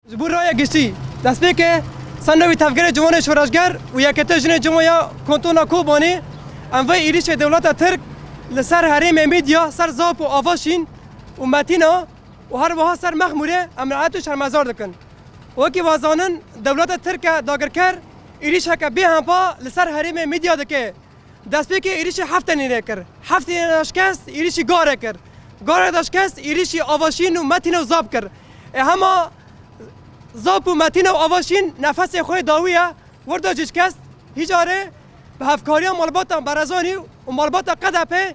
Ji bo raya giştî, destpêkê senda wî tevgerê ciwanê şoreşger û yekete jinê ciwan ya Kantona Kobanê, em vê êrîşê dewleta Tirk li ser herêmê Mîdya, ser Zap û Avaşîn û Metîna û her wiha ser Mexmûrê emraet û şermezar dikin. Wekî wazanin dewleta Tirk e dagirker, êrîşeke bêhempa li ser herêmê Mîdya dike. Destpêkê êrîşê heft tenê re kir. Heft tenê re şikest êrîşî gar re kir. Gar re de şikest êrîşî Avaşîn û Metîne û Zap kir. Ê hema Zap û Metîne û Avaşîn nefesê xwe dawîye wirda cicikest hîcarê bi hevkariya malbata Berezanî û malbata Qedepê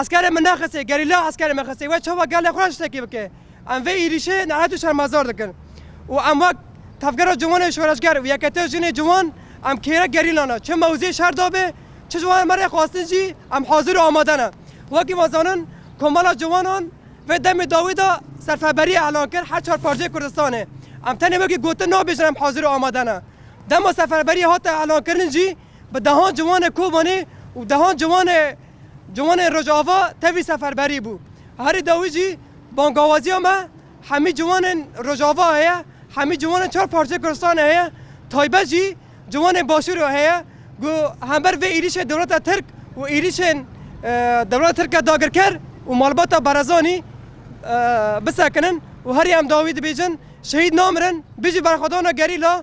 Eskerê min nexisê, gerîla eskerê min xisê we çawa gelê xwe re tiştekî bike. Em vê êrîşê nehet û şermezar dikin û em wek Tevgera Ciwanê Şoreşger û Yeketiya Jinê Ciwan em kêrek gerîlan e. Çi mewzeyê şer dabê, çi ji wan re me rê xwestin jî em hazir û amade ne. Wekî me zanin Komela Ciwanan vê demê dawî de serfeberiyê elan kir her çar parçeyê Kurdistanê. Em tenê wekî gotin nabêjin em hazir û amade ne. Dema serfeberiyê hate elankirin jî, Bi dehan ciwanê Kobanê û dehan ciwanê ciwanê Rojava tevî seferberî bû. Herî dawî jî bangawaziya me hemî ciwanên Rojava heye, hemî ciwanên çar parçeyê Kurdistanê heye, taybet jî ciwanên Başûrê heye ku hember vê êrîşê dewleta Tirk û êrîşên dewleta Tirk ya dagirker û malbata Barazanî bisekinin û herî em dawî dibêjin, Şehîd namirin, bijî berxwedana gerîla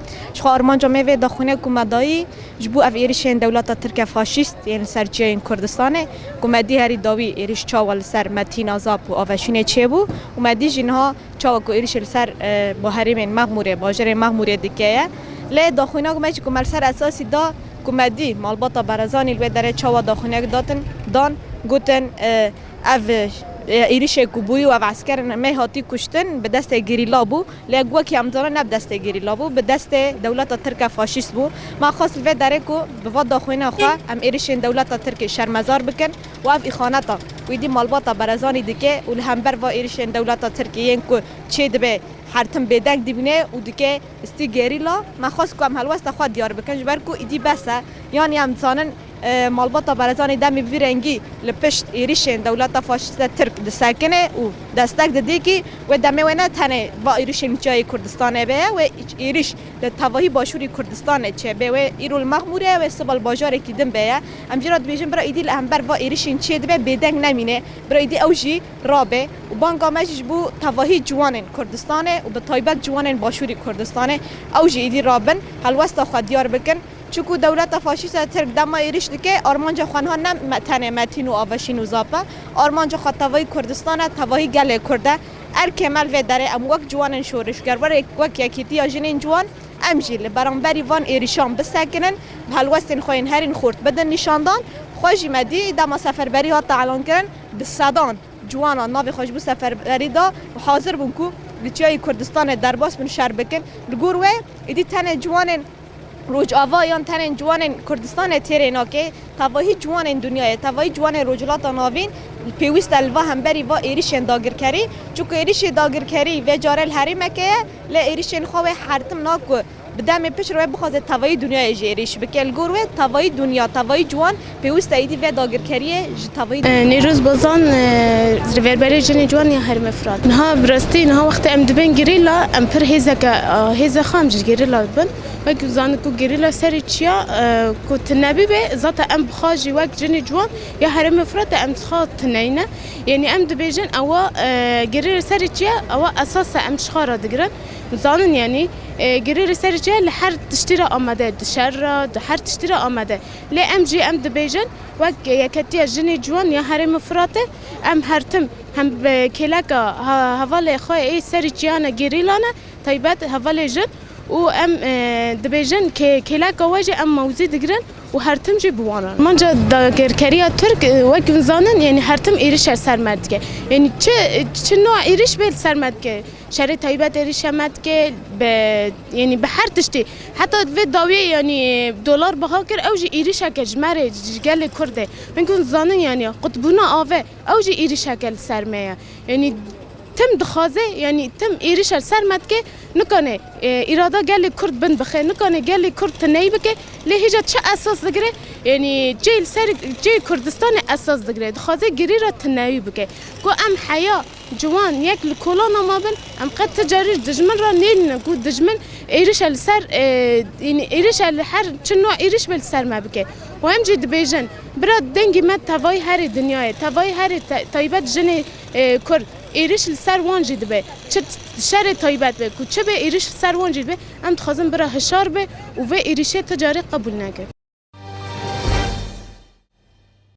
Ji xwe armanca me vê daxuine ku me dayî ji bo ev êrişên dewleta tirke faşîst yên li ser çiyayên Kurdistanê ku me dî herî dawî êriş çawa li ser me tîna zap û aveşûnê çêbû û me dî jî niha çawa ku êrişê li ser bo herêmên Mexmûrê, bajêrên Mexmûrê dike ye. Lê daxuinak me jî ku me li ser esasî da ku me dî malbata Berezanî li wê derê çawa daxuinek datin dan gotin ev êrişê ku bûyî û ev esker me hatî kuştin bi destê gerîla bû. Lê gu wekî em dizanin ne bi destê gêrî la bû, bi destê dewleta tirke faşîst bû. Me xwest li vê derê ku bi va daxuyîna xwe em êrişên dewleta tirkê şermezar bikin û ev îxaneta ku êdî malbata Berezanî dike û li hember va êrişên dewleta tirkê yên ku çê dibe hertim bêdeng dibîne û dike stî gêrîla. Me xwest ku em helwesta xwe diyar bikin ji ber ku êdî bes e. Yanî em dizanin. Malbata Barzanî demê bi vî rengî li pişt êrîşên dewleta faşîste Tirk disekine û destek dide kî wê demê wê ne tenê va êrîşên li çiyayê Kurdistanê bê ye wê êrîş li tevahî başûrî Kurdistanê çê bê wê îro li Mexmûrê ye wê siba li bajarekî din bê ye. Em jî re dibêjin bira êdî li hember va êrîşên çiyê dibe bêdeng nemîne bira êdî ew jî rabê û banga me jî ji bo tevahî ciwanên Kurdistanê û bi taybet ciwanên başûrî Kurdistanê ew jî êdî rabin helwesta xwe diyar bikin. Çiku dewleta faşîsta Tirk dema êrîş dike, armanca xwe niha ne tenê Metîn û Avşîn û Zap e, armanca xwe tevahî Kurdistan e, tevahî gelê Kurd e. Erkê me li vê derê em wek ciwanên şorişger, wek Yekîtiya Jinên Ciwan, em jî li beramberî van êrîşan bisekinin, bi helwestên xwe yên herîn xurt bidin nîşandan. Xwe jî me dî dema seferberî hat elankirin, bi sedan ciwanan navê xwe ji bo seferberî da û hazir bûn ku li Çiyayê Kurdistanê derbas bin şer bikin. Li gor wê êdî tenê ciwanên Rojava yan tenê ciwanên Kurdistanê têrê nake, tevahî ciwanên dinyayê, tevahî ciwanên Rojhilata Navîn pêwîst e li va hemberî va êrîşên dagirkerî. Çunku êrîşê dagirkerî vê care li herêmeke ye, lê êrîşên xwe wê hertim na ku bi demê pişt re wê bixwaze tevahî dinyayê jî êrîş bike. Li gor wê tevahî dinya, tevahî ciwan Pêwîst êdî vê dagirkeriyê ji tevî. Nêroz Bozan, Rêverberê Jinê Ciwan ya Herêma Firat, Niha bi rastî niha wextê em dibên gerîla em pir hêzeke hêza xwe em ji gerîla dibin. Wekî ku zanîn ku gerîla serê çi ya ku tu nebîbê zata em bi xwe jî wek Jinê Ciwan ya Herêma Firatê em ji xwe tuneyne. Yanî em dibêjin ewa gerîla serê çi ya ewa esas e em ji xwe re digirin. Zanîn yanî gerîla serê çi ya li her tiştî re amade di şer re di her tiştî re amade. Lê em jî em dibêjin wek Yeketiya Jinê Ciwan ya Herêma Firatê em her tim hem bi kêleka hevalê xwe ê serî çiyana gerîlan e taybet hevalê jin û em dibêjin kê kêleka we jî em mewzî digirin û her tim jî bi wan re. Manca dagirkeriya Tirk wek hûn zanin yanî her tim êrişe ser me dike. Yanî çi çi noa êriş bê li ser me dike. Şerê taybet êrişe me dike bi Yanî bi her tiştî heta vê dawiyê yanî dolar biha kir ew jî êrîşeke ji me rê ji gelê Kurd e. Hin ku dizanin yanî qutbûna ave ew jî êrîşeke li ser me ye. Yanî tim dixwaze yanî tim êrîşe li ser me dike nikane îrada gelê Kurd bin bixe nikane gelê Kurd tiney bike lê hêja çi esas digire yanî cihê li ser cihê Kurdistanê esas digire dixwaze girî re tineyî bike ku em heya Ciwan, yek li kolona me bin, em qet ti carî ji dijmin re nêlîne ku dijmin êrişe li ser ênî êrişe li her çi nû êriş be li ser me bike û em jî dibêjin bira dengî me tevayî herî dinyayê tevayî herî taybet jinê kurd êriş li ser wan jî dibe çi şerê taybet be ku çi be êriş li ser wan jî dibe em dixwazin bira hişar be û vê êrişê ti carî qebûl neke.